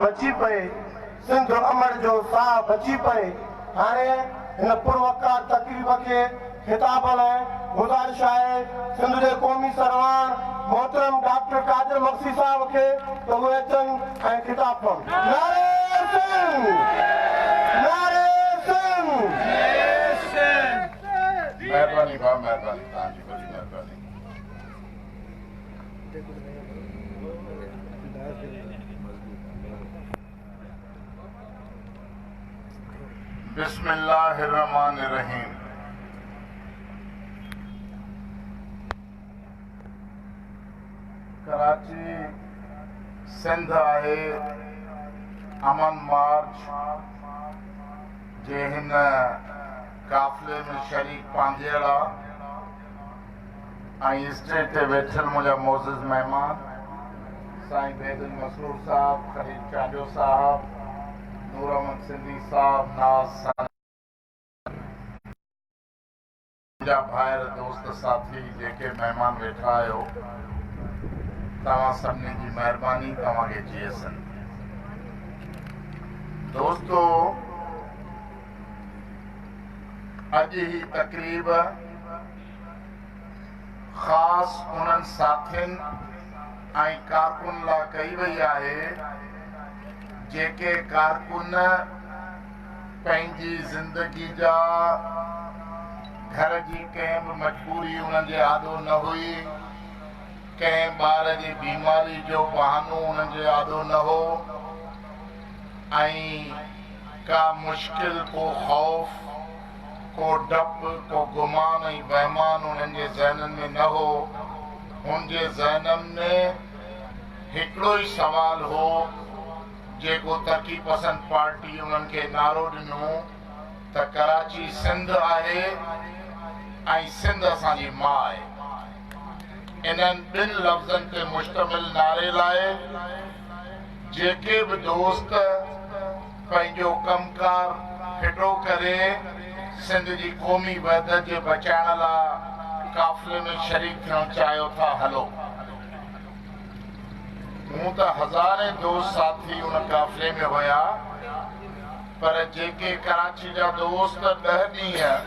بچي پئي، سنڌ امڙ جو ساهه بچي پئي. هاڻي هن پروقار تقريب کي خطاب لاء گذارش آهي سنڌ جي قومي سرواڻ محترم ڊاڪٽر قادر مگسي صاحب کي ته اهي اچن ۽ خطاب ڪن. نعري سنڌ! نعري سنڌ! مهرباني ڀاء مهرباني توهان جي وڏي مهرباني. بسم الله الرحمن الرحيم ڪراچي سنڌ آهي امن مارچ جي هن قافلي ۾ شريڪ پانڌيئڙا ۽ اسٽيج تي ويٺل منهنجا معزز مهمان سائين بيد المسرور صاحب، خليل چانڊيو صاحب، نور احمد سنڌي صاحب، ناز ساجد صاحب، منهنجا ڀائر، دوست، ساٿي جيڪي مهمان ويٺا آهيو توهان سڀني جي مهرباني توهان کي جي ايس اين دوستو. اڄ هي تقريب خاص انهن ساٿين ۽ ڪارڪن لا ڪئي وئي آهي جيڪي ڪارڪن پنهنجي زندگي جا گهر جي ڪنهن به مجبوري انهن جي آڏو نه هئي ڪنهن ٻار جي بيماري جو بهانو انهن جي آڏو نه هو ۽ ڪا مشڪل، ڪو خوف، ڪو ڊپ، ڪو گمان ۽ وهمان هنن جي ذهنن ۾ نه هو. هن جي ذهنن ۾ هڪڙو ئي سوال هو، جيڪو ترقي پسند پارٽي انهن کي نعرو ڏنو ته ڪراچي سنڌ آهي ۽ سنڌ اسان جي ماء. انهن ٻن لفظن تي مشتمل نعري لاء، جيڪي به دوست پنهنجو ڪم ڪار ڦٽو ڪري سنڌ جي قومي وحدت جي بچائڻ لا قافلي ۾ شريڪ ٿيڻ چاهيو ٿا هلو. هونء ته هزارين دوست ساٿي ان قافلي ۾ هيا پر جيڪي ڪراچي جا دوست ڏهه ڏينهن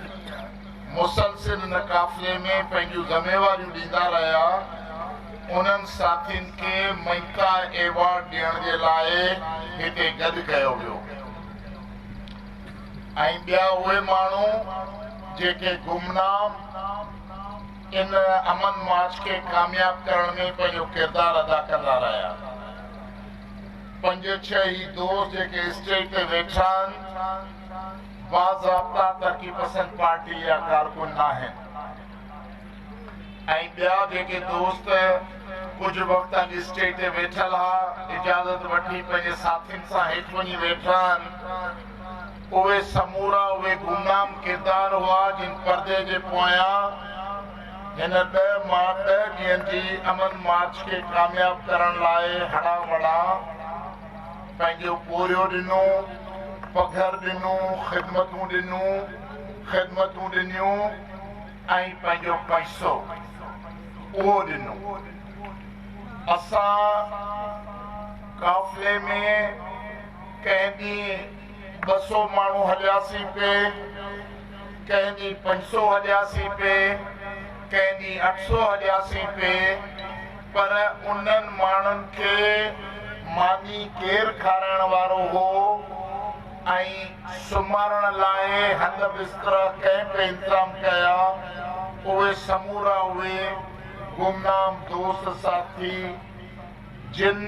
مسلسل ان قافلي ۾ پنهنجون ذميواريون ڏيندا رهيا. انهن ساٿين کي مئتا ايوارڊ ڏيڻ جي لاء هتي گڏ ڪيو ويو ۽ ٻيا اهي ماڻهو جيڪي گمنام ان امن مارچ کي ڪامياب ڪرڻ ۾ پنهنجو ڪردار ادا ڪندا رهيا. پنج ڇهه هي دوست جيڪي اسٽيج تي ويٺا آهن. باضابطا ترقي پسند پارٽي جا ڪارڪن ناهن ۽ ٻيا جيڪي دوست ڪجهه وقت اڳ اسٽيج تي ويٺل ها اجازت وٺي پنهنجي ساٿين سان هيٺ وڃي ويٺا آهن اهي سمورا اهي گمنام ڪردار هئا جن پردي جي پويان هن ڏهه ماء ڏهه ڏينهن جي امن مارچ کي ڪامياب ڪرڻ لاء هڙان وڙان پنهنجو پورهيو ڏنو، پگهر ڏنو، خدمتون ڏنون، خدمتون ڏنيون ۽ پنهنجو پئسو اهو ڏنو. اسان قافلي ۾ ڪنهن ڏينهن. ٻه سو ماڻهو هلياسين پي، ڪنهن ڏينهن پنج سو هلياسين پي، ڪنهن ڏينهن اٺ سو هلياسين پي، پر انهن ماڻهن کي ماني ڪير کارائڻ وارو هو ۽ سمهارڻ لاء هنڌ بسترا ڪنهن پي انتظام ڪيا، اهي سمورا اهي گمنام دوست ساٿي، جن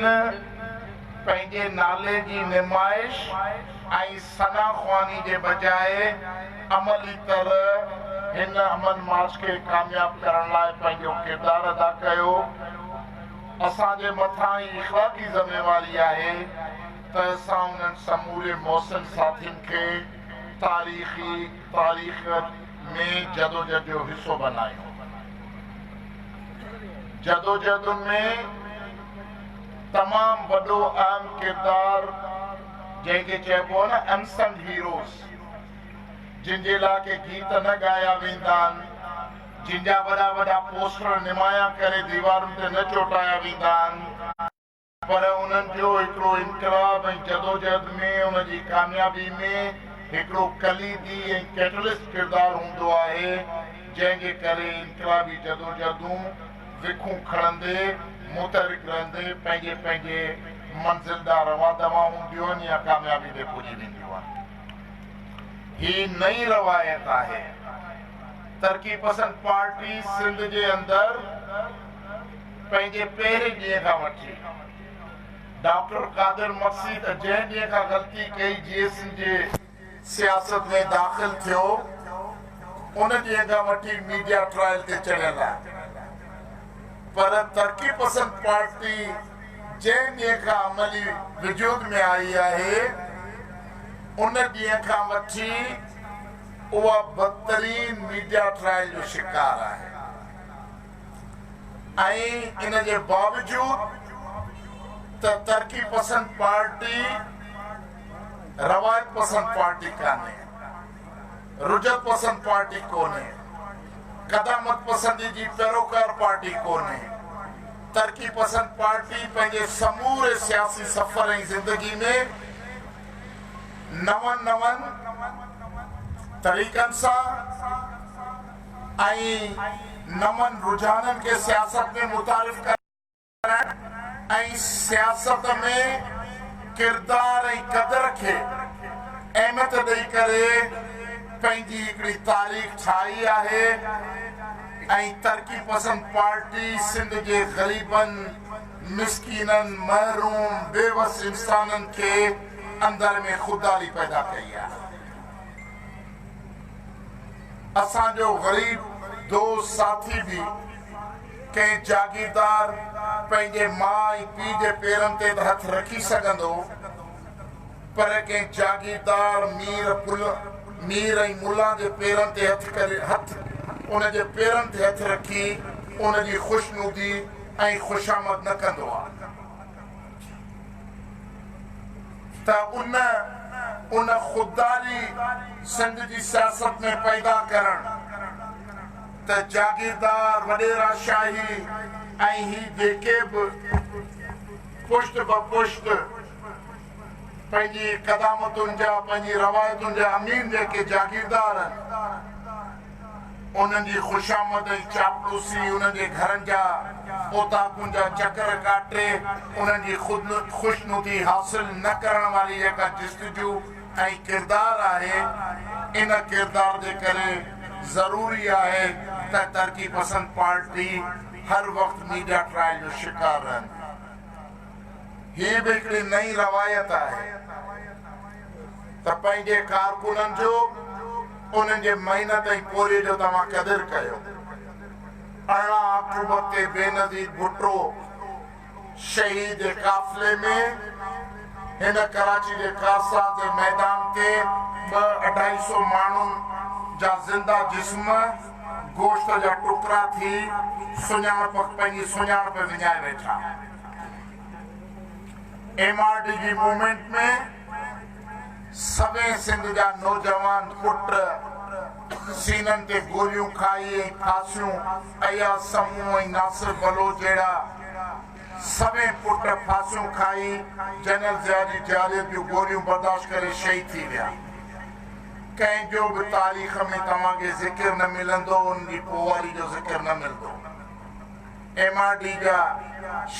پنهنجي نالي جي نمائش ۽ ثنا خواني جي بجاء عملي طرح هن امن مارچ کي ڪامياب ڪرڻ لاء پنهنجو ڪردار ادا ڪيو. اسان جي مٿان هي اخلاقي ذميواري آهي ته اسان انهن سموري محسن ساٿين کي تاريخي تاريخ ۾ جدوجھد جو حصو بنايون. جدوجهدن ۾ تمام وڏو اهم ڪردار جنهن کي چئبو آهي نه انسنگ هيروز جن جي لاء ڪي گيت نه ڳايا ويندا آهن جن جا وڏا وڏا پوسٽر نمايان ڪري ديوارن تي نه چوٽايا ويندا آهن پر انهن جو هڪڙو انقلاب ۽ جدوجهد ۾ ان جي ڪاميابي ۾ هڪڙو ڪليدي ۽ ڪيٽلسٽ ڪردار هوندو آهي، جنهن جي ڪري انقلابي جدوجهدون وکون کڻندي، متحرڪ رهندي پنهنجي پنهنجي منزل ڏانهن روان دوان هونديون آهن يا ڪاميابي تي پڄي وينديون آهن. هي نئين روايت آهي. ترقي پسند پارٽي سنڌ جي اندر. پنهنجي پهرين ڏينهن کان وٺي ڊاڪٽر قادر مگسي ته جنهن ڏينهن کان غلطي ڪئي جي ايس سي جي سياست ۾ داخل ٿيو ان ڏينهن کان وٺي ميڊيا ٽرائل تي چڙهيل آهي پر ترقي پسند پارٽي جنهن ڏينهن کان عملي وجود ۾ آئي آهي ان ڏينهن کان وٺي اها بدترين ميڊيا ٽرائل جو شڪار آهي ۽ ان جي باوجود ته ترقي پسند پارٽي روايت پسند پارٽي ڪانهي، رجعت پسند پارٽي ڪونهي، قدامت پسندي جي پيروڪار پارٽي ڪونهي، ترقي پسند پارٽي پنهنجي سموري سياسي سفر ۽ زندگي ۾ نون نون طريقن سان، ۽ نون رجحانن کي سياست ۾ متعارف ڪرائڻ ۽ سياست ۾ ڪردار ۽ قدر کي اهميت ڏئي ڪري پنهنجي هڪڙي تاريخ ٺاهي آهي ۽ ترقي پسند پارٽي سنڌ جي غريبن، مسڪينن، محروم، بيوس انسانن کي اندر ۾ خودداري پيدا ڪئي آهي. اسان جو غريب دوست ساٿي به ڪنهن جاگيردار پنهنجي ماء ۽ پيء جي پيرن تي ته هٿ رکي سگهندو پر ڪنهن جاگيردار مير مير ۽ ملان جي پيرن تي هٿ ڪري هٿ ان جي پيرن تي هٿ رکي ان جي خوشنودي ۽ خوشامد نه ڪندو آ. ته ان ان خودداري سنڌ جي سياست ۾ پيدا ڪرڻ ته جاگيردار، وڏيرا شاهي ۽ هي جيڪي به پشت به پشت پنهنجي قدامتن جا، پنهنجي روايتن جا امين جيڪي جاگيردار آهن، انهن جي خوشامد ۽ چاپلوسي، انهن جي گهرن جا اوطاقن جا چڪر ڪاٽي، انهن جي خوشنودي حاصل نه ڪرڻ واري جيڪا جستجو ۽ ڪردار آهي، ان ڪردار جي ڪري ضروري آهي ته ترقي پسند پارٽي هر وقت ميڊيا ٽرائل جو شڪار رهندي. هيء به هڪڙي نئين روايت آهي. ته پنهنجي ڪارڪنن جو، انهن جي محنت ۽ پورهيي جو توهان قدر ڪيو. ارڙهن آڪٽوبر تي بينظير ڀٽو شهيد جي قافلي ۾ هن ڪراچي جي ڪارساز جي ميدان تي، ٻه اڍائي سو ماڻهن جا زنده جسم گوشت جا ٽڪرا ٿي سڃاڻپ پنهنجي سڃاڻپ وڃائي ويٺا. ايم آر ڊي جي موومينٽ ۾ سوين سنڌ جا نوجوان پٽ سينن تي گوليون کائي ۽ ڦاسيون اياز سمون ۽ ناصر بلوچ جهڙا سوين پٽ ڦاسيون کائي جنرل ضياء جي جارحيت جون گوليون برداشت ڪري شهيد ٿي ويا ڪنهن جو به تاريخ ۾ توهان کي ذڪر نه ملندو انهن جي پوئواري جو ذڪر نه ملندو. ايم آر ڊي جا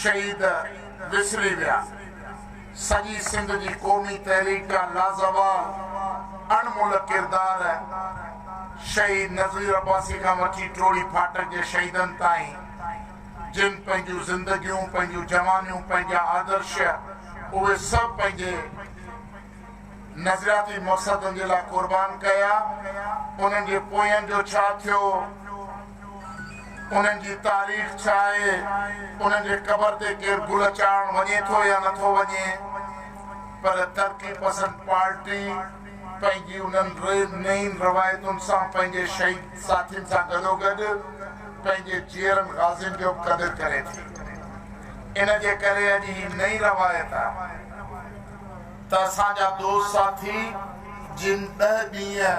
شهيد وسري ويا، سڄي سنڌ جي قومي تحريڪ جا لازوال اڻ ملهه ڪردار شهيد نذير عباسي کان وٺي ٽوڙي ڦاٽڪ جي شهيدن تائين جن پنهنجون زندگيون، پنهنجون جوانيون، پنهنجا آدرش اهي سڀ پنهنجي نظرياتي مقصدن جي لاء قربان ڪيا انهن جي پويان جو ڇا ٿيو؟ انهن جي تاريخ ڇا آهي، انهن جي قبر تي ڪير گل چاڙهڻ وڃي ٿو يا نه ٿو وڃي، پر ترقي پسند پارٽي پنهنجي انهن نئين روايتن سان پنهنجي شهيد ساٿين سان گڏوگڏ پنهنجي جيئرن غازين جو به قدر ڪري ٿي. ان جي ڪري اڄ هي نئين روايت آهي ته اسان جا دوست ساٿي جن ڏهه ڏينهن،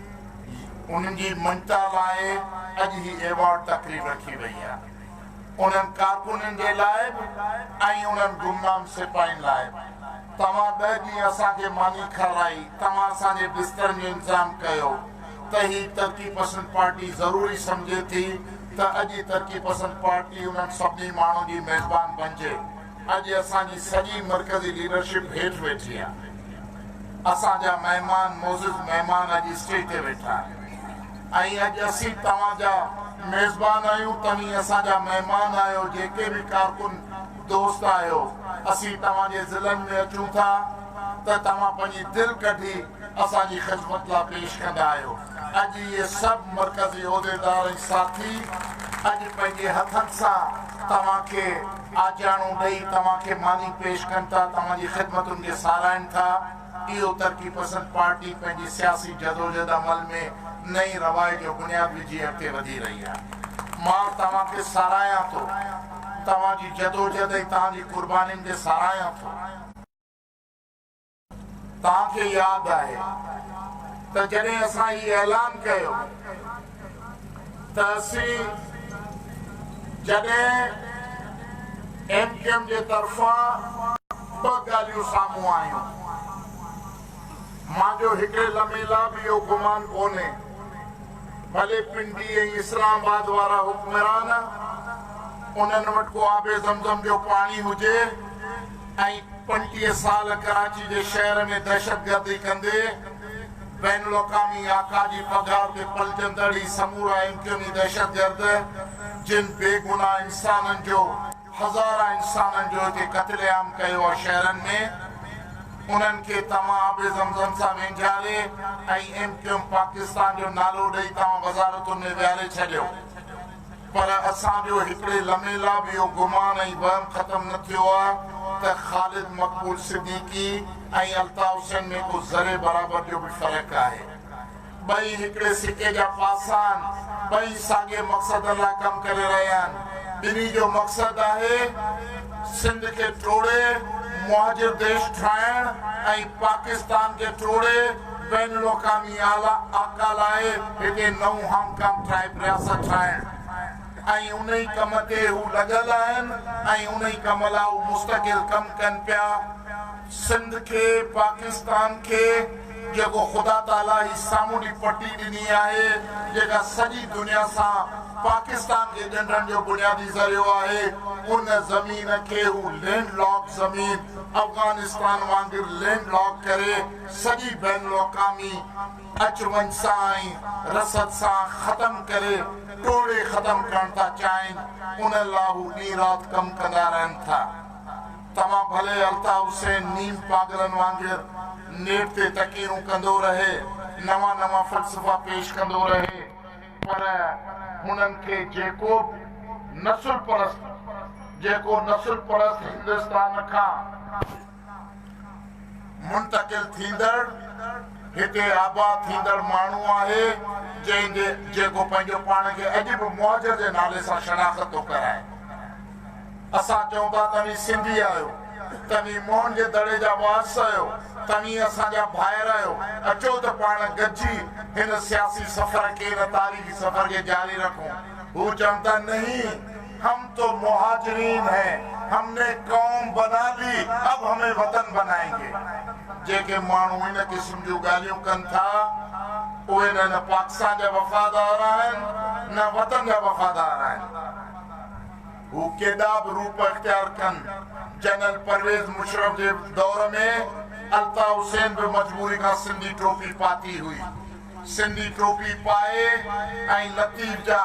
انهن جي مڃتا لاء اڄ هي ايوارڊ تقريب رکي وئي آهي. انهن ڪارڪنن جي لاء به ۽ انهن گمنام سپاهين لاء به. توهان ٻه ڏينهن اسان کي ماني کارائي، توهان اسان جي بسترن جو انتظام ڪيو ته هي ترقي پسند پارٽي ضروري سمجهي ٿي ته اڄ ترقي پسند پارٽي انهن سڀني ماڻهن جي ميزبان بنجي. اڄ اسان جي سڄي مرڪزي ليڊرشپ هيٺ ويٺي آهي. اسان جا مهمان معزز مهمان اڄ اسٽيج تي ويٺا آهن ۽ اڄ اسين توهان جا ميزبان آهيون توهين اسان جا مهمان آهيو جيڪي به ڪارڪن دوست آهيو اسين توهان جي ضلعن ۾ اچون ٿا ته توهان پنهنجي دل ڪڍي اسان جي خدمت لا پيش ڪندا آهيو اڄ اهي سڀ مرڪزي عهديدار ۽ ساٿي اڄ پنهنجي هٿن سان توهان کي آجياڻو ڏئي توهان کي ماني پيش ڪن ٿا، توهان جي خدمتن کي ساراهين ٿا. اهو ترقي پسند پارٽي پنهنجي سياسي جدوجھد عمل ۾ نئين روائي جو بنياد وجھي اڳتي وڌي رهي آهي. مان توهان کي ساراهيان ٿو، توهان جي جدوجھد ۽ تهان جي قربانين کي ساراهيان ٿو. توهان کي ياد آهي ته جڏهن اسان هي اعلان ڪيو ته اسين جڏهن ايم ڪيو ايم جي طرفان ٻه ڳالهيون سامهون آيون مان جو هڪڙي لمحي لا به اهو گمان ڪونهي ڀلي پنڊي ۽ اسلام آباد وارا حڪمران انهن وٽ ڪو آب زمزم جو پاڻي هجي ۽ پنجٽيهه سال ڪراچي جي شهر ۾ دهشتگردي ڪندي بين الاقامي آقا جي پگهار تي پلجندڙ هي سمورا امڪني دهشتگرد جن بي گناهه انسانن جو هزاران انسانن جو هتي قتل عام ڪيو آ شهرن ۾ انهن کي توهان آب زمزم سان وينجهاري ۽ ايم ڪيوم پاڪستان جو نالو ڏئي توهان وزارتن ۾ ويهاري ڇڏيو. پر اسان جو هڪڙي لمحي لا به اهو گمان ۽ وهم ختم نه ٿيو آ ته خالد مقبول صديقي ۽ الطاف حسين ۾ ڪو ذري برابر جو به فرق آهي. ٻئي هڪڙي سڪي جا پاسا آهن، ٻئي ساڳئي مقصدن لا ڪم ڪري رهيا آهن، ٻنهي جو مقصد آهي سنڌ کي ٽوڙي مهاجر ديش ٺاهڻ ۽ پاڪستان کي ٽوڙي بين الاقوامي اعليٰ آقا لاء هتي نئون هانگ ڪانگ ٽرائب رياست ٺاهڻ ۽ انهي ڪم تي هو لڳل آهن ۽ انهي ڪم لاء هو مستقل ڪم ڪن پيا، سنڌ کي، پاڪستان کي جيڪو خدا تعاليٰ هي سامونڊي پٽي ڏني آهي جيڪا سڄي دنيا سان پاڪستان کي ڳنڍڻ جو بنيادي ذريعو آهي ان زمين کي هو لينڊ لاڪ زمين افغانستان وانگر لينڊ لاڪ ڪري سڄي بين الاقامي اچ وڃ سان ۽ رسد سان ختم ڪري ٽوڙي ختم ڪرڻ ٿا چاهين ان لا هو ڏينهن رات ڪم ڪندا رهن ٿا توهان ڀلي الطاف حسين نيم پاگلن وانگر نيٽ تي تقيرون ڪندو رهي نوان نوان فلسفا پيش ڪندو رهي پر هنن کي جيڪو به نسل پرست جيڪو نسل پرست هندستان کان منتقل ٿيندڙ هتي آباد ٿيندڙ ماڻهو آهي جنهن جي جيڪو پنهنجو پاڻ کي اڄ به مهاجر جي نالي سان شناخت ٿو ڪرائي. اسان چئون ٿا توهين سنڌي آهيو، توهين موهن جي دڙي جا وارث آهيو، توهين اسان جا ڀائر آهيو، اچو ته پاڻ گڏجي هن سياسي سفر کي هن تاريخي سفر کي جاري رکون. هو چون ٿا نهين. هم تو مهاجرين هين، هم ني قوم بنا لي، اب همين وطن بنائين گي. جيڪي ماڻهو ان قسم جون ڳالهيون ڪن ٿا، اهي نه نه پاڪستان جا وفادار آهن، نه وطن جا وفادار آهن. هو ڪيڏا به روپ اختيار ڪن، جنرل پرويز مشرف جي دور ۾ الطاف حسين به مجبوري کان سنڌي ٽوپي پاتي هئي. سنڌي ٽوپي پائي ۽ لطيف جا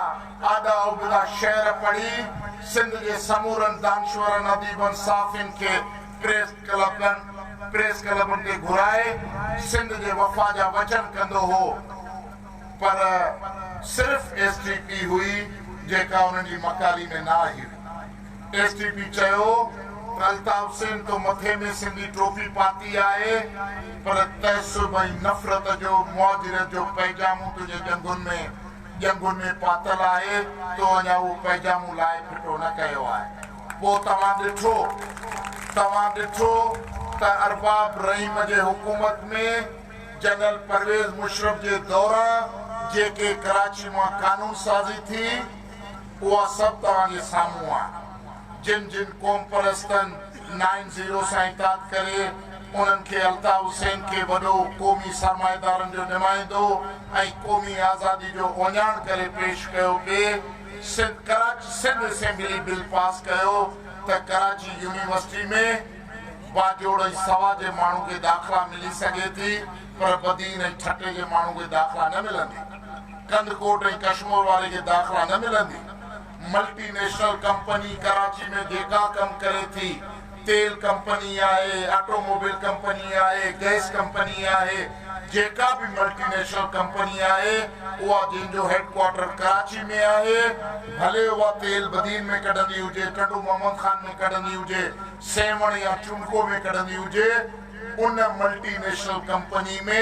آڏا ابتا شعر پڙهي سنڌ جي سمورن دانشورن، اديبن، صحافين کي پريس ڪلبن، Press Club، تي گهرائي سنڌ جي وفا جا وچن ڪندو هو پر صرف ايس ٽي پي هئي جيڪا انهن جي مڪاري ۾ نه آئي هئي. ايس ٽي پي چيو ته الطاف حسين تو مٿي ۾ سنڌي ٽوپي پاتي آهي پر تعصب ۽ نفرت جو مهاجريت جو پئجامو تنهنجي ڄنگهن ۾ ڄنگهن ۾ پاتل آهي تو اڃا اهو پئجامو لاهي ڦٽو نه ڪيو آهي پوء توهان ڏٺو توهان ڏٺو ته ارباب رحيم جي حڪومت ۾ جنرل پرويز مشرف جي دوران جيڪي ڪراچي مان قانون سازي ٿي اها سڀ توهان جي سامهون آهي. جن جن قومپرستن نائن زيرو سان اتحاد ڪري انهن کي الطاف حسين کي وڏو قومي سرمائيدارن جو نمائندو ۽ قومي آزادي جو اوڃاڻ ڪري پيش ڪيو پي Sindh Karachi Sindh assembly bill pass ڪيو ته ڪراچي يونيورسٽي ۾ باجوڙ ۽ سوا جي ماڻهو کي داخلا ملي سگهي ٿي. پر بدين ۽ ٺٽي جي ماڻهن کي داخلا نه ملندي، ڪنڌڪوٽ ۽ ڪشمور واري کي داخلا نه ملندي، ملٽي نيشنل ڪمپني ڪراچي ۾ جيڪا ڪم ڪري ٿي، تيل ڪمپني آهي، آٽو موبيل ڪمپني آهي، گئس ڪمپني آهي، جيڪا به ملٽي نيشنل ڪمپني آهي اها جنهن جو هيڊ ڪوارٽر ڪراچي ۾ آهي، ڀلي اها تيل بدين ۾ ڪڍندي هجي، ٽنڊو محمد خان ۾ ڪڍندي هجي، سيوهڻ يا چونڪو ۾ ڪڍندي هجي، ان ملٽي نيشنل ڪمپني ۾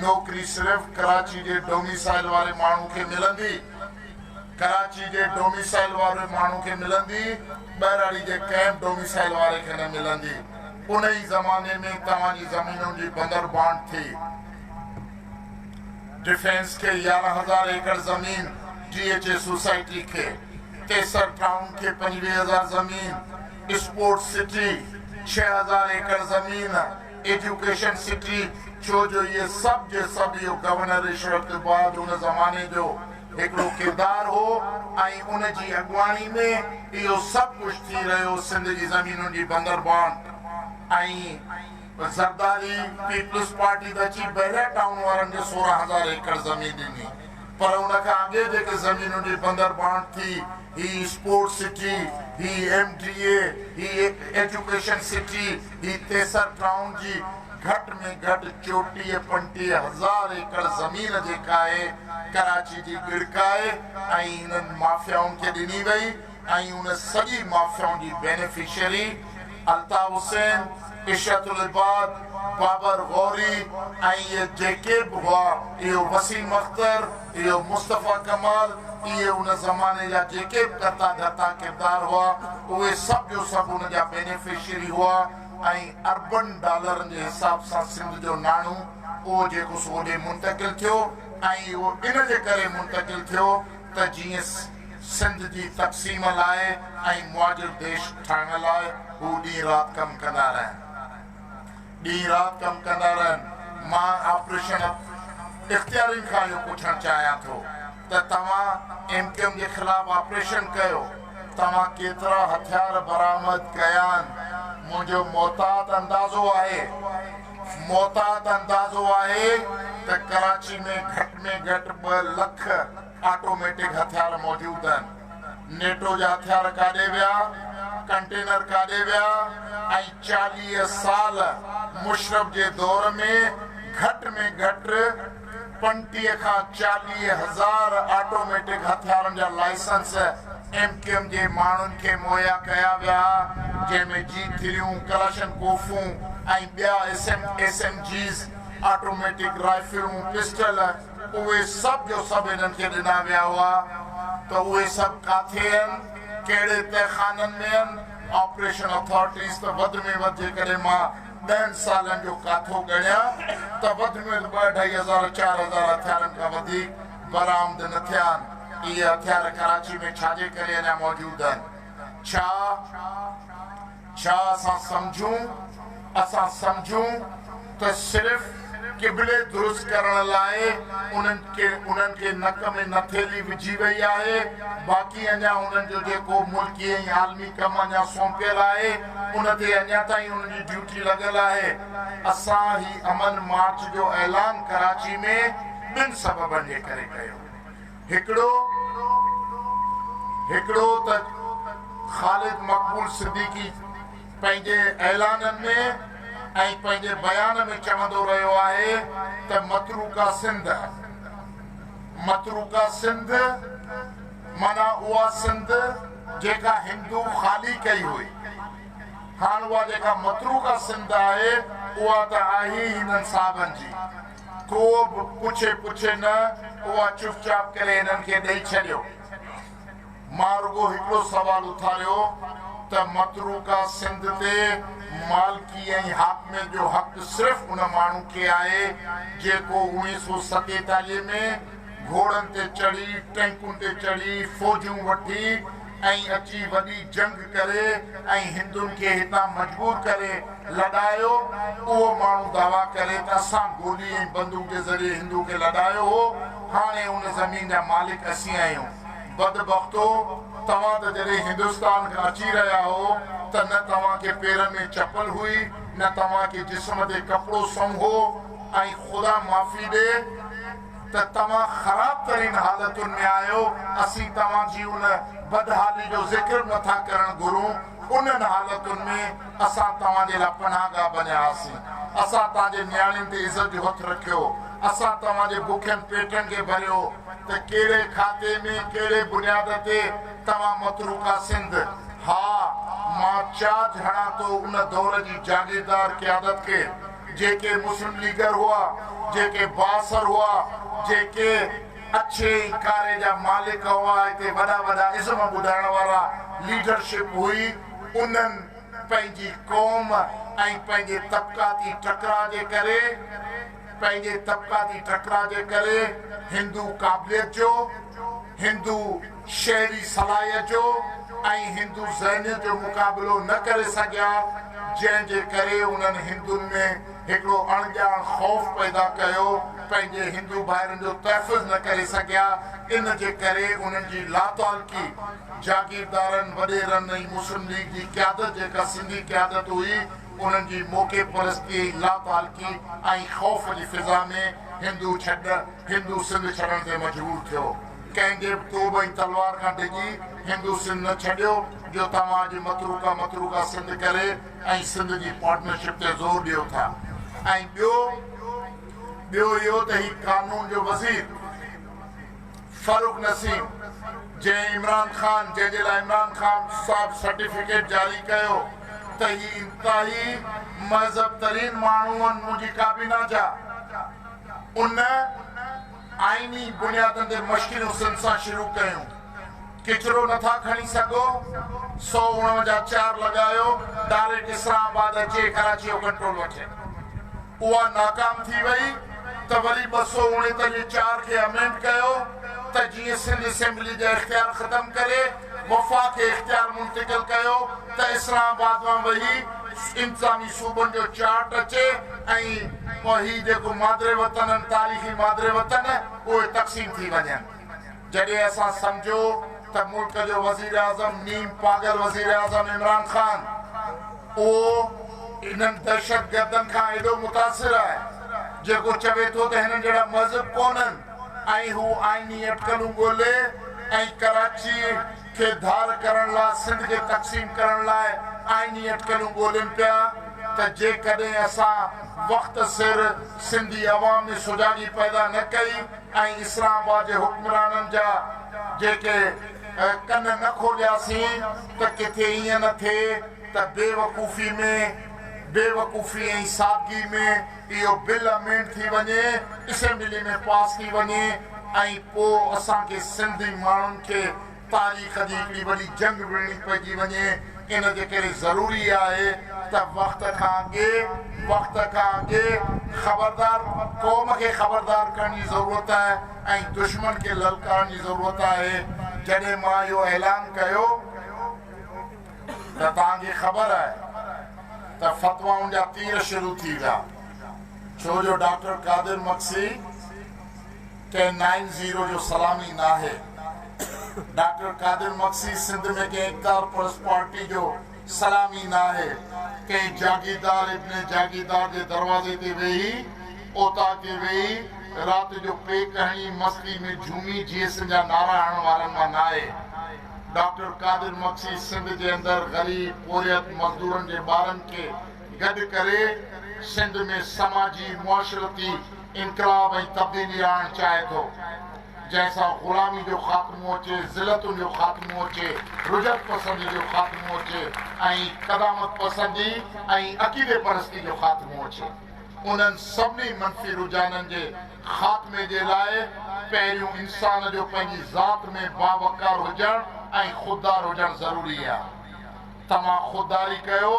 نوڪري صرف ڪراچي جي ڊوميسائل واري ماڻهو کي ملندي، ڪراچي جي ڊوميسائل واري ماڻهو کي ملندي، ٻهراڙي جي ڪنهن به ڊوميسائل واري کي نه ملندي. انهي زماني ۾ توهان جي زمينن جي بندر بانٽ ٿي. ڊفينس کي يارهن هزار ايڪڙ زمين، ڊي ايڇ اي سوسائٽي کي، تيسر ٽائون کي پنجويهه هزار زمين، اسپورٽس سٽي، ڇهه هزار ايڪڙ زمين، ايجوڪيشن سٽي، ڇو جو اهي سڀ جي سڀ اهو گورنر رشوت تي بعد ان زماني جو هڪڙو ڪردار هو ۽ ان جي اڳواڻي ۾ اهو سڀ ڪجهه ٿي رهيو سنڌ جي زمينن جي بندربان ۽ زرداري پيپلز پارٽي ته اچي بحريا ٽائون وارن کي سورهن هزار ايڪڙ زمين ڏني پر ان کان اڳي جيڪي زمينن جي بندربان ٿي هي اسپورٽس سٽي، هي ايم ڊي اي، هي هڪ ايجوڪيشن سٽي، هي تيسر ٽائون جي گهٽ ۾ گهٽ چوٽيهه پنٽيهه هزار ايڪڙ زمين جيڪا آهي ڪراچي جي ڳڙڪ آهي ۽ انهن مافيائن کي ڏني وئي ۽ ان سڄي مافيائن جي بينيفشري الطاف حسين، عشرت العباد، بابر غوري ۽ اهي جيڪي به هئا، اهو وسيم اختر، اهو مصطفيٰ ڪمال، اهي ان زماني جا جيڪي به ڪرتا ڌرتا ڪردار هئا، اهي سڀ جو سڀ ان جا بينيفشري هئا ۽ اربن ڊالرن جي حساب سان سنڌ جو ناڻو اهو جيڪو سو اوڏي منتقل ٿيو ۽ اهو ان جي ڪري منتقل ٿيو ته جيئن سنڌ جي تقسيم لاء ۽ معاجل ديش ٺاهڻ لاء هو ڏينهن رات ڪم ڪندا رهن. ڏينهن رات ڪم ڪندا رهن. مان آپريشن اختيارين کان اهو پڇڻ چاهيان ٿو ته توهان ايم ڪيو ايم جي خلاف آپريشن ڪيو، توهان ڪيترا هٿيار برآمد ڪيا آهن؟ منهنجو محتاط اندازو آهي، محتاط اندازو آهي ته ڪراچي ۾ گهٽ ۾ گهٽ ٻه لک. آٽوميٽڪ هٿيار موجود آهن، نيٽو جا هٿيار ڪاڏي ويا، ڪنٽينر ڪاڏي ويا ۽ چاليهه سال مشرف جي دور ۾ گهٽ ۾ گهٽ پنٽيهه کان چاليهه هزار آٽوميٽڪ هٿيارن جا لائسنس ايم ڪيو ايم جي ماڻهن کي مهيا ڪيا ويا جنهن ۾ جي ٿريون، ڪلاشنڪوفون ۽ ٻيا ايس ايم جيز، آٽوميٽڪ رائفلون، پسٽل. اهي سڀ جو سڀ هنن کي ڏنا ويا هئا ته اهي سڀ ڪاٿي آهن، ڪهڙي تهخانن ۾ آهن، آپريشن اٿارٽيز ته وڌ ۾ وڌ جيڪڏهن مان ڏهن سالن جو ڪاٿو ڳڻيان ته وڌ ۾ وڌ ٻه اڍائي هزار چار هزار هٿيارن کان وڌيڪ برآمد نه ٿيا آهن، اهي هٿيار ڪراچي ۾ ڇاجي ڪري اڃا موجود آهن، ڇا؟ ڇا اسان سمجهون؟ اسان سمجهون ته صرف قبلي درست ڪرڻ لاء انهن کي انهن کي نڪ ۾ نٿيلي وجهي وئي آهي، باقي اڃا انهن جو جيڪو ملڪي ۽ عالمي ڪم اڃا سونپيل آهي، ان تي اڃا تائين انهن جي ڊيوٽي لڳل آهي. اسان هي امن مارچ جو اعلان ڪراچي ۾ ٻن سببن جي ڪري ڪيو. هڪڙو هڪڙو ته خالد مقبول صديقي پنهنجي اعلانن ۾ ۽ پنهنجي بيان ۾ چوندو رهيو آهي ته متروڪه سنڌ متروڪه سنڌ معنيٰ اها سنڌ جيڪا هندو خالي ڪئي هئي هاڻ اها جيڪا متروڪه سنڌ آهي اها ته آهي هي هنن صاحبن جي. ڪو به پڇي پڇي نه، اها چپ چاپ ڪري هنن کي ڏئي ڇڏيو. مان رڳو هڪڙو سوال اٿاريو ته متروڪه سنڌ تي مالڪي ۽ حاڪميت جو حق صرف ان ماڻهو کي آهي، جيڪو اوڻيهه سؤ ستيتاليهه ۾ گهوڙن تي چڙهي، ٽينڪن تي چڙهي، فوجون وٺي ۽ اچي وڏي جنگ ڪري ۽ هندن کي هتان مجبور ڪري لڏايو اهو ماڻهو دعويٰ ڪري ته اسان گولي ۽ بندوق جي ذريعي هندو کي لڏايو هو هاڻي ان زمين جا مالڪ اسين آهيون بدبختو توهان ته جڏهن هندستان کان اچي رهيا هو ته نه توهان کي پيرن ۾ چپل هئي نه توهان کي جسم تي ڪپڙو سم هو ۽ خدا معافي ڏي ته توهان خراب ترين حالتن ۾ آهيو، اسين توهان جي ان بدحالي جو ذڪر به نٿا ڪرڻ گهرون، انهن حالتن ۾ اسان توهان جي لاء پناهه گاهه بنيا هئاسين، اسان توهان جي نياڻين تي عزت جو هٿ رکيو، اسان توهان جي بکين پيٽن کي ڀريو، ته ڪهڙي کاتي ۾، ڪهڙي بنياد تي توهان متروڪا سنڌ، ها! مان چاج هڻان ٿو ان دور جي جاگيردار قيادت کي، جيڪي مسلم ليگر هئا، جيڪي بااثر هئا، جيڪي اڇي ۽ ڪاري جا مالڪ هئا، هتي وڏا وڏا ازم ٻڌائڻ وارا ليڊرشپ هئي، انهن پنهنجي قوم ۽ پنهنجي طبقاتي ٽڪراء جي ڪري، پنهنجي طبقاتي ٽڪراء جي ڪري هندو قابليت جو، هندو. شهري صلاحيت جو ۽ هندو ذهنيت جو مقابلو نه ڪري سگهيا، جنهن جي ڪري انهن هندن ۾ هڪڙو اڻڄاڻ خوف پيدا ڪيو، پنهنجي هندو ڀائرن جو تحفظ نه ڪري سگهيا، ان جي ڪري انهن جي لاتعلقي جاگيردارن، وڏيرن ۽ مسلم ليگ جي قيادت جيڪا سنڌي قيادت هئي، انهن جي موقعي پرستيء، لاتعلقي ۽ خوف جي فضا ۾ هندو ڇڏ، هندو سنڌ ڇڏڻ تي مجبور ٿيو. ڪنهن جي به توبه ۽ تلوار کان ڊڄي هندو سنڌ نه ڇڏيو جو توهان اڄ متروڪا متروڪا سنڌ ڪري ۽ سنڌ جي پارٽنرشپ تي زور ڏيو ٿا ۽ ٻيو ٻيو اهو ته هي قانون جو وزير فرخ نسيم جنهن عمران خان جنهن جي لاء عمران خان صاحب سرٽيفڪيٽ جاري ڪيو ته هي انتهائي مهذب ترين ماڻهون هن منهنجي ڪابينا جا ان آئيني بنيادن تي مشڪلون سنڌ سان شروع ڪيون. ڪچرو نه ٿا کڻي سگهو، سو اڻوجا چار لڳايو، ڊاريڪٽ اسلام آباد اچي ڪراچي جو ڪنٽرول وٺي. اها ناڪام ٿي وئي ته وري ٻه سؤ اڻيتاليهه چار کي امينڊ ڪيو ته جيئن سنڌ اسيمبلي جا اختيار ختم ڪري، وفاق کي اختيار منتقل ڪيو ته اسلام آباد مان وهي انتظامي صوبن جو چارٽ اچي ۽ هي جيڪو مادر وطن آهن تاريخي مادر وطن اهي تقسيم ٿي وڃن جڏهن اسان سمجهو ته ملڪ جو وزيراعظم نيم پاڳل وزيراعظم عمران خان اهو انهن دهشتگردن کان ايڏو متاثر آهي جيڪو چوي ٿو ته هنن جهڙا مهذب ڪونهن. ۽ هو آئيني اٽڪلون ڳولي ۽ ڪراچي کي ڌار ڪرڻ لا سنڌ کي تقسيم ڪرڻ لاء آئيني اٽڪلون ڳولين پيا ته جيڪڏهن اسان وقت سر سنڌي عوام ۾ سجاڳي پيدا نه ڪئي ۽ اسلام آباد جي حڪمرانن جا جيڪي ڪن نه کولياسين ته ڪٿي ائين نه ٿئي ته بيوقوفي ۾ بيوقوفي ۽ سادگي ۾. اهو بل امينڊ ٿي وڃي اسيمبلي ۾ پاس ٿي وڃي ۽ پو اسان کي سنڌي ماڻهن کي تاريخ جي هڪڙي وڏي جنگ وڙهڻي پئجي وڃي ان جي ڪري ضروري آهي ته وقت کان اڳي وقت کان اڳي خبردار قوم کي خبردار ڪرڻ جي ضرورت آهي ۽ دشمن کي للڪارڻ جي ضرورت آهي جڏهن مان اهو اعلان ڪيو ته توهان کي خبر آهي ته فتوائن جا تير شروع ٿي ويا ڇو جو ڊاڪٽر قادر مگسي ڪنهن نائن زيرو جو سلامي ناهي ڊاڪٽر قادر مگسي سنڌ ۾ ڪنهن اقتدار پرست پارٽي جو سلامي ناهي ڪنهن جاگيردار ابن جاگيردار جي دروازي تي ويهي اوطاق تي ويهي رات جو پيڪ هڻي مستي ۾ جهومي جيئسن جا نعرا هڻڻ وارن مان ناهي. ڊاڪٽر قادر مگسي سنڌ جي اندر غريب پورهيت مزدورن جي ٻارن کي گڏ ڪري سنڌ ۾ سماجي معاشرتي انقلاب ۽ تبديلي آڻڻ چاهي ٿو جنهن سان غلامي جو خاتمو اچي ذلتن جو خاتمو اچي رجعت پسندي جو خاتمو اچي ۽ قدامت پسندي ۽ عقيدي پرستي جو خاتمو اچي انهن سڀني منفي رجحانن جي خاتمي جي لاء پهريون انسان جو پنهنجي ذات ۾ باوقار هجڻ ۽ خوددار هجڻ ضروري آ. توهان خودداري ڪيو،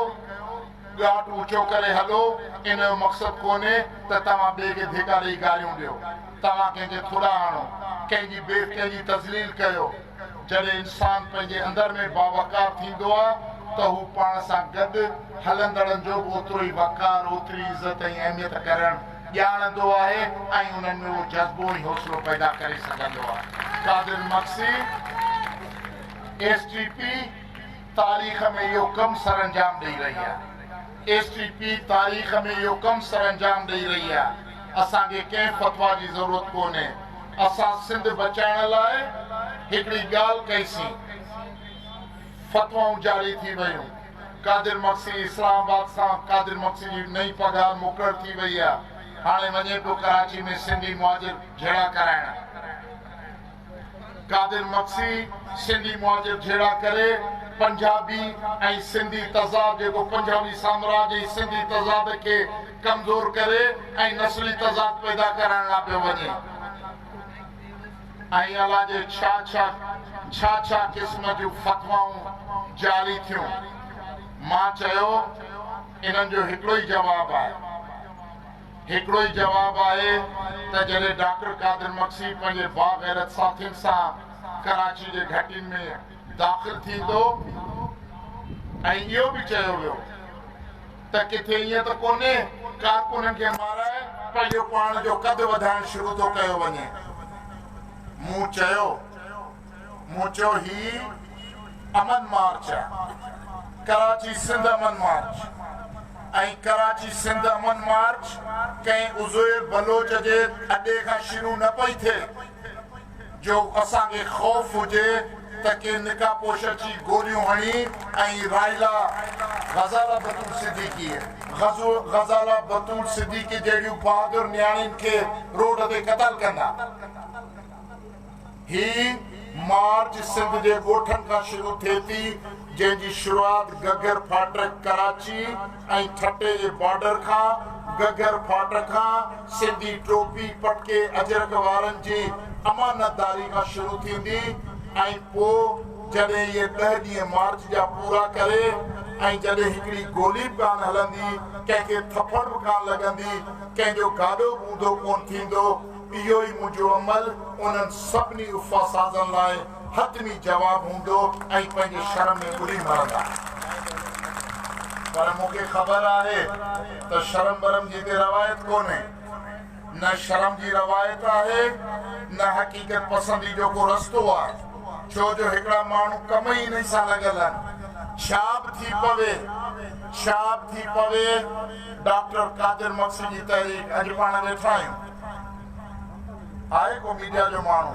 ڳاٽ اوچو ڪري هلو، ان جو مقصد ڪونهي ته توهان ٻئي کي ڌيڪا ڏئي گاريون ڏيو، توهان ڪنهن کي ٿلها هڻو، ڪنهن جي بيف ڪنهن جي تذليل ڪيو. جڏهن انسان پنهنجي اندر ۾ باوقار ٿيندو آ ته هو پاڻ سان گڏ هلندڙن جو به اوترو ئي وقار، اوتري عزت ۽ اهميت ڪرڻ. ڄاڻندو آهي ۽ انهن ۾ اهو جذبو ۽ حوصلو پيدا ڪري سگهندو آهي. Qadir Magsi, S T P تاريخ ۾ اهو ڪم سرانجام ڏئي رهي آهي. ايس ٽي پي تاريخ ۾ اهو ڪم سرانجام ڏئي رهي آهي. اسان کي ڪنهن فتويٰ جي ضرورت ڪونهي. اسان سنڌ بچائڻ لاء هڪڙي ڳالهه ڪئي سين. فتوائون جاري ٿي ويون. قادر مگسي اسلام آباد سان قادر مگسي جي نئين پگهار مقرر ٿي وئي آ هاڻي وڃي پيو ڪراچي ۾ سنڌي مهاجر جهيڙا ڪرائڻ قادر مگسي سنڌي مهاجر جهيڙا ڪري پنجابي ۽ سنڌي تضاد جيڪو پنجابي سامراج ۽ سنڌي تضاد کي ڪمزور ڪري ۽ نسلي تضاد پيدا ڪرائڻ لا پيو وڃي. ۽ الا جي ڇا ڇا ڇا ڇا قسم جون فتوائون جاري ٿيون. مان چيو انهن جو هڪڙو ئي جواب آهي. هڪڙو ئي جواب آهي ته جڏهن ڊاڪٽر قادر مگسي پنهنجي باغيرت ساٿين سان ڪراچي جي گهٽين ۾ داخل ٿيندو ۽ اهو به چيو ويو. ته ڪٿي ائين ته ڪونهي ڪارڪنن کي مارائي پنهنجو پاڻ جو قد وڌائڻ شروع ٿو ڪيو وڃي. مون چيو مون چيو هي امن مارچ آ ڪراچي سنڌ امن مارچ ۽ ڪراچي سنڌ امن مارچ ڪنهن عزير بلوچ جي اڏي کان شروع نه پئي ٿئي. جو اسان کي خوف هجي ته ڪي نقاب پوش اچي گوليون هڻي ۽ رائلا غزاله بتول صديقي، غزاله بتول صديقي جهڙيون بهادر نياڻين کي روڊ تي قتل ڪندا. هي مارچ سنڌ جي ڳوٺن کان شروع ٿئي ٿي جنهن جي شروعات گگر ڦاٽڪ ڪراچي، ۽ ٺٽي جي بارڊر کان گگهر ڦاٽ کان سنڌي ٽوپي پٽڪي اجرڪ وارن جي امانتداري کان شروع ٿيندي ۽ پوء جڏهن اهي ڏهه ڏينهن مارچ جا پورا ڪري ۽ جڏهن هڪڙي گولي به ڪانه هلندي ڪنهن کي ٿڦڙ به ڪانه لڳندي ڪنهن جو گاڏو به اونڌو ڪونه ٿيندو اهو ئي منهنجو عمل انهن سڀني افاسازن لاء حتمي جواب هوندو ۽ پنهنجي شرم ۾ ٻڏي مرندا. پر مون کي خبر آهي ته شرم برم جي ڪي روايت ڪونهي. نه شرم جي روايت آهي نه حقيقت پسندي جو ڪو رستو آ. ڇو جو هڪڙا ماڻهو ڪم ئي انهي سان لڳل آهن. ڇا به ٿي پوي ڇا به ٿي پوي ڊاڪٽر قادر مگسي جي تحريڪ اڄ پاڻ ويٺا آهيون. آهي ڪو ميڊيا جو ماڻهو.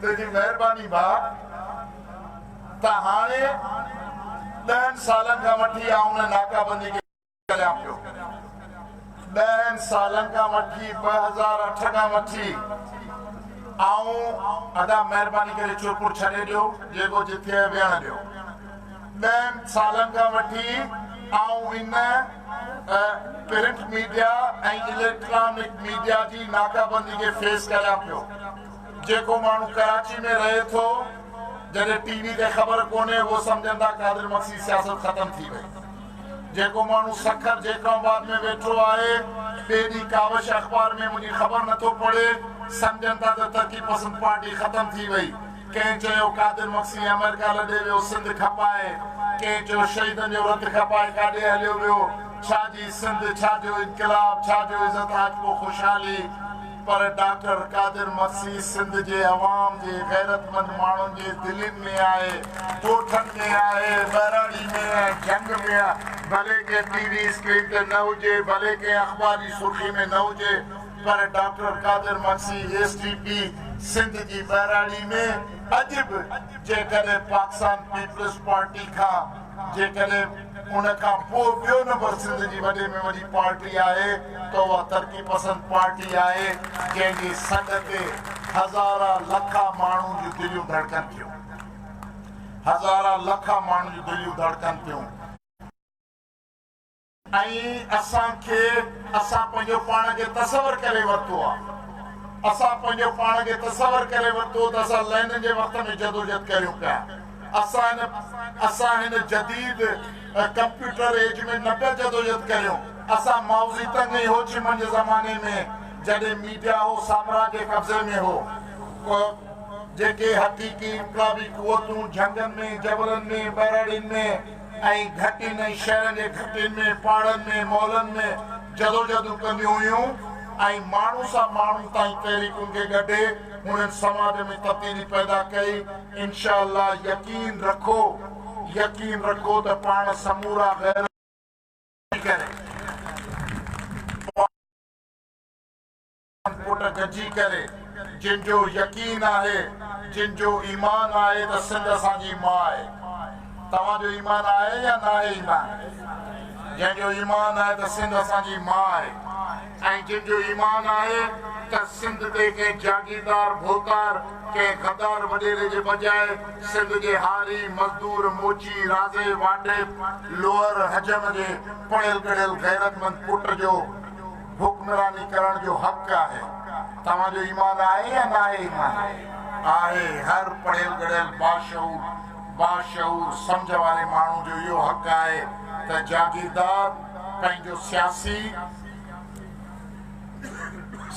تنهنجي مهرباني ڀاء ته هاڻي ڏهن سالن کان وٺي آئون هن ناڪابندي کي ڪريان پيو ڏهن سالن کان وٺي ٻه هزار اٺ کان وٺي آئون ادا مهرباني ڪري چرپر ڇڏي ڏيو جيڪو جتي آهي ويهڻ ڏيو ڏهن سالن کان وٺي آئون ان پرنٽ ميڊيا ۽ اليڪٽرانڪ ميڊيا جي ناڪابندي کي فيس ڪريان پيو جيڪو ماڻهو ڪراچي ۾ رهي ٿو جڏهن ٽي وي تي خبر ڪونهي اهو سمجهن ٿا قادر مگسي سياست ختم ٿي وئي جيڪو ماڻهو سکر جيڪب آباد ۾ ويٺو آهي ٻئي ڏينهن ڪاوش اخبار ۾ منهنجي خبر نٿو پڙهي سمجهن ٿا ته ترقي پسند پارٽي ختم ٿي وئي ڪنهن چيو قادر مگسي آمريڪا لڏي ويو سنڌ کپائي ڪنهن چيو شهيدن جو رت کپائي ڪاڏي هليو ويو ڇا جي سنڌ ڇا جو انقلاب ڇا جو عزت آجپو خوشحالي پر ڊاڪٽر قادر مسيح سنڌ جي عوام جي غيرتمند ماڻهن جي دلين ۾ آهي، ڳوٺن ۾ آهي، ٻهراڙي ۾ ۽ جهنگ ۾ آهي. ڀلي ڪنهن ٽي وي اسڪرين تي نه هجي، ڀلي ڪنهن اخبار جي سرخي ۾ نه هجي پر doctor Qadir Masih S D P Sindh جي ٻهراڙي ۾ اڄ به جيڪڏهن پاڪسان پيپلز پارٽي کان جيڪڏهن ان کان پوء ٻيو نمبر سنڌ جي وڏي ۾ وڏي پارٽي آهي ته اها ترقي پسند پارٽي آهي جنهن جي سڏ تي هزارا لکا ماڻهون جون دليون ڌڙڪن ٿيون هزارا لکا ماڻهون جون دليون ڌڙڪن ٿيون. ۽ اسان کي اسان پنهنجو پاڻ کي تصور ڪري ورتو آ اسان پنهنجو پاڻ کي تصور ڪري ورتو ته اسان لينن جي وقت ۾ جدوجھد ڪريون پيا اسان اسان هن جديد ڪمپيوٽر ايج ۾ نه پيا جدوجھد ڪريون اسان مائوزي تنگ ۽ هوچيمن جي زماني ۾ جڏهن ميڊيا هو سامراج جي قبضي ۾ هو ڪو جيڪي حقيقي انقلابي قوتون جھنگن ۾ جبلن ۾ ٻهراڙين ۾ ۽ گهٽين ۽ شهرن جي گهٽين ۾ پاڙن ۾ مالن ۾ جدوجهدون ڪنديون هيون ۽ ماڻهو سان ماڻهو تائين تحريڪن کي ڳڍي هنن سماج ۾ تبديلي پيدا ڪئي انشاء الله يقين رکو يقين رکو ته پاڻ سمورا غير ڪري. ڪوٽ گڏجي ڪري جن جو يقين آهي جن جو ايمان آهي ته سنڌ اسان جي ماء آهي توهان جو ايمان آهي يا ناهي ايمان جنهن جو ايمان آهي ته سنڌ اسان جي ماء آهي ۽ جن جو ايمان آهي ته سنڌ تي ڪنهن جاگيردار ڀوتار ڪنهن غدار وڏيري جي بجاء سنڌ جي هاري مزدور موچي رازي واڍي لوهر حجم جي پڙهيل ڳڙهيل غيرتمند پٽ جو حڪمراني ڪرڻ جو حق آهي توهان جو ايمان آهي يا ناهي ايمان آهي هر پڙهيل ڳڙهيل باشعور باشعور سمجهه واري ماڻهو جو اهو حق آهي ته جاگيردار پنهنجو سياسي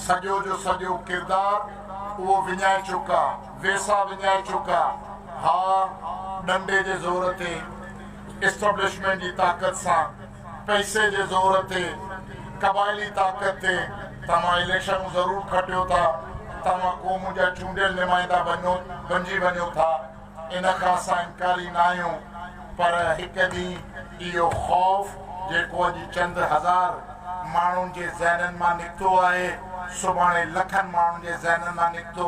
سڄو جو سڄو ڪردار اهو وڃائي چڪا ويسا وڃائي چڪا ها ڏنڊي جي زور تي اسٽبلشمينٽ جي طاقت سان پئسي جي زور تي قبائلي طاقت تي توهان اليڪشنون ضرور کٽيو ٿا، توهان قوم جا چونڊيل نمائندا بنجي وڃو ٿا، ان کان اسان انڪاري ناهيون پر هڪ ڏينهن اهو خوف جيڪو اڄ چند هزار ماڻهن جي ذهنن مان نڪتو آهي، سڀاڻي لکن ماڻهن جي ذهنن مان نڪتو.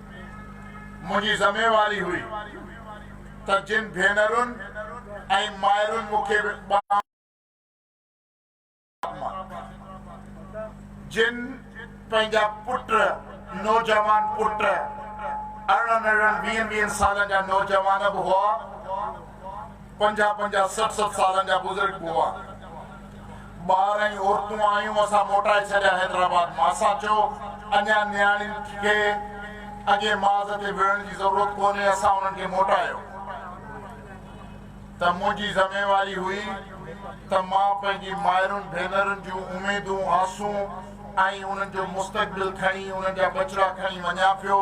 منهنجي ذميواري هئي ته جن ڀينرن ۽ مائرن مون کي ٻانهن مان جن پنهنجا پٽ نوجوان پٽ ارڙهن ارڙهن ويهن ويهن سالن جا نوجوان به هئا پنجاهه پنجاهه سٺ سٺ سالن جا بزرگ به هئا. ٻار ۽ عورتون آيون اسان موٽائي ڇڏيا حيدرآباد مان اسان چيو اڃان نياڻين کي اڳئين ماز تي وڙهڻ جي ضرورت ڪونهي اسان انهن کي موٽايو ته منهنجي ذميواري هئي ته مان پنهنجي مائرن ڀينرن جون اميدون آسون ۽ انهن جو مستقبل کڻي انهن جا ٻچڙا کڻي وڃان پيو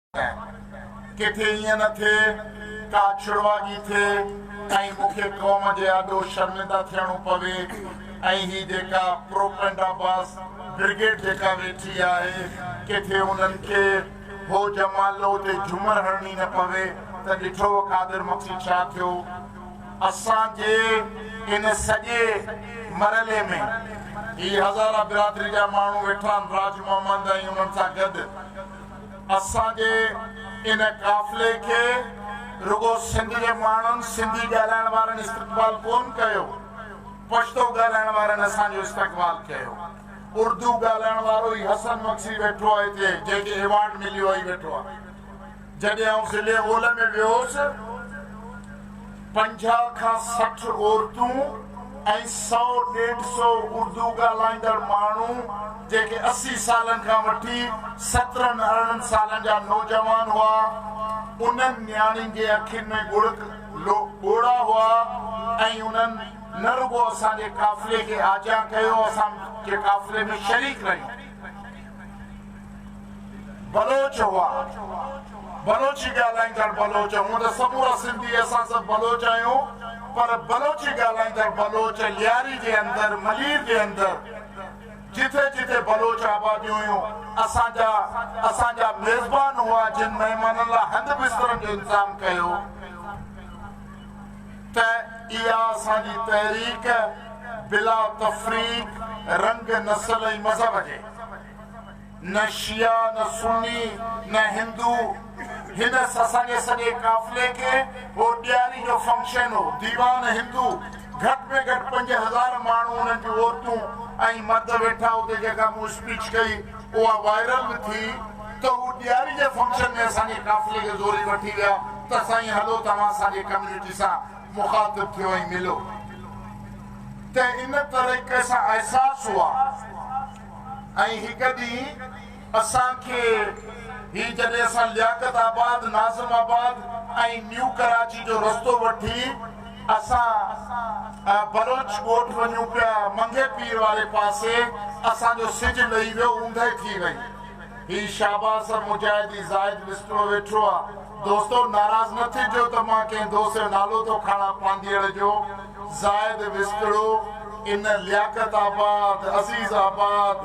ڪيائين. ڪٿي ائين نه ٿئي ڪا ڇڙواڳي ٿئي ۽ مون کي قوم جي آڏو شرمنده ٿيڻو پوي ۽ هي جيڪا پروپئنڊا باز برگيڊ جيڪا ويٺي آهي ڪٿي انهن کي هو جمالو اتي جهومر هڻڻي نه پوي ته ڏٺوء قادر مگسي ڇا ٿيو اسان جي ان سڄي مرحلي ۾ هي هزاره برادري جا ماڻهو ويٺا آهن راج محمد ۽ انهن سان گڏ. اسان جي ان قافلي کي رڳو سنڌ جي ماڻهن، سنڌي ڳالهائڻ وارن استقبال ڪون ڪيو، پشتو ڳالهائڻ وارن اسان جو استقبال ڪيو. اردو ڳالهائڻ وارو هي حسن مگسي ويٺو آهي هتي، جنهن کي ايوارڊ مليو آهي، ويٺو آهي. جڏهن آئون ضلعي اولهه ۾ ويو هوس. پنجاهه کان سٺ عورتون ۽ سؤ ڏيڍ سؤ اردو ڳالهائيندڙ ماڻهو جيڪي اسي سالن کان وٺي سترهن ارڙهن سالن جا نوجوان هئا انهن نياڻين جي اکين ۾ ڳڙڪ ڳوڙها هئا ۽ انهن نه رڳو اسان جي قافلي کي آجيان ڪيو اسان جي قافلي ۾ شريڪ رهيون. بلوچ هئا. بلوچي ڳالهائيندڙ بلوچ، هونء ته سمورا سنڌي اسان سڀ بلوچ آهيون، پر بلوچي ڳالهائيندڙ بلوچ لياري جي اندر، ملير جي اندر، جتي جتي بلوچ آباديون هيون، اسان جا اسان جا ميزبان هئا، جن مهمانن لاء هنڌ بسترن جو انتظام ڪيو. ته اها اسان جي تحريڪ بلا تفريق رنگ، نسل ۽ مذهب جي نه شيعا نه سني نه هندو هن اسان جي سڄي قافلي کي اهو ڏياري جو فنڪشن هو ديوان هندو گهٽ ۾ گهٽ پنج هزار ماڻهو انهن جون عورتون ۽ مرد ويٺا اتي جيڪا مون اسپيچ ڪئي اها وائرل به ٿي ته هو ڏياري جي فنڪشن ۾ اسان جي قافلي کي زوري وٺي ويا ته سائين هلو توهان اسان جي ڪميونٽي سان مخاطب ٿيو ۽ ملو ته ان طريقي سان احساس هئا ۽ هڪ ڏينهن اسان کي هي جڏهن اسان لياقت آباد ناظم آباد ۽ نيو ڪراچي جو رستو وٺي اسان بلوچ ڳوٺ وڃون پيا، منگهي پير واري پاسي اسان جو سج لهي ويو، اوندهه ٿي وئي. هي شاباس مجاهدي زاهد وسٽوء ويٺو آ. دوستو ناراض نه ٿجو ته مان ڪنهن دوست جو نالو ٿو کڻان پانڌيئڙ جو. زاهد وسٽڙو ان Liaquatabad, Azizabad,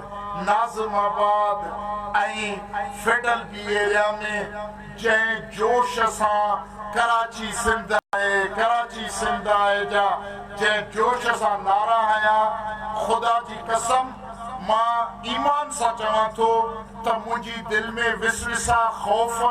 Nazimabad ۽ federal B area ۾ جنهن جوش سان ڪراچي سنڌ آهي، ڪراچي سنڌ آهي جا جنهن جوش سان نعرا هنيا، خدا جي قسم مان ايمان سان چوان ٿو ته منهنجي دل ۾ وسوسا، خوف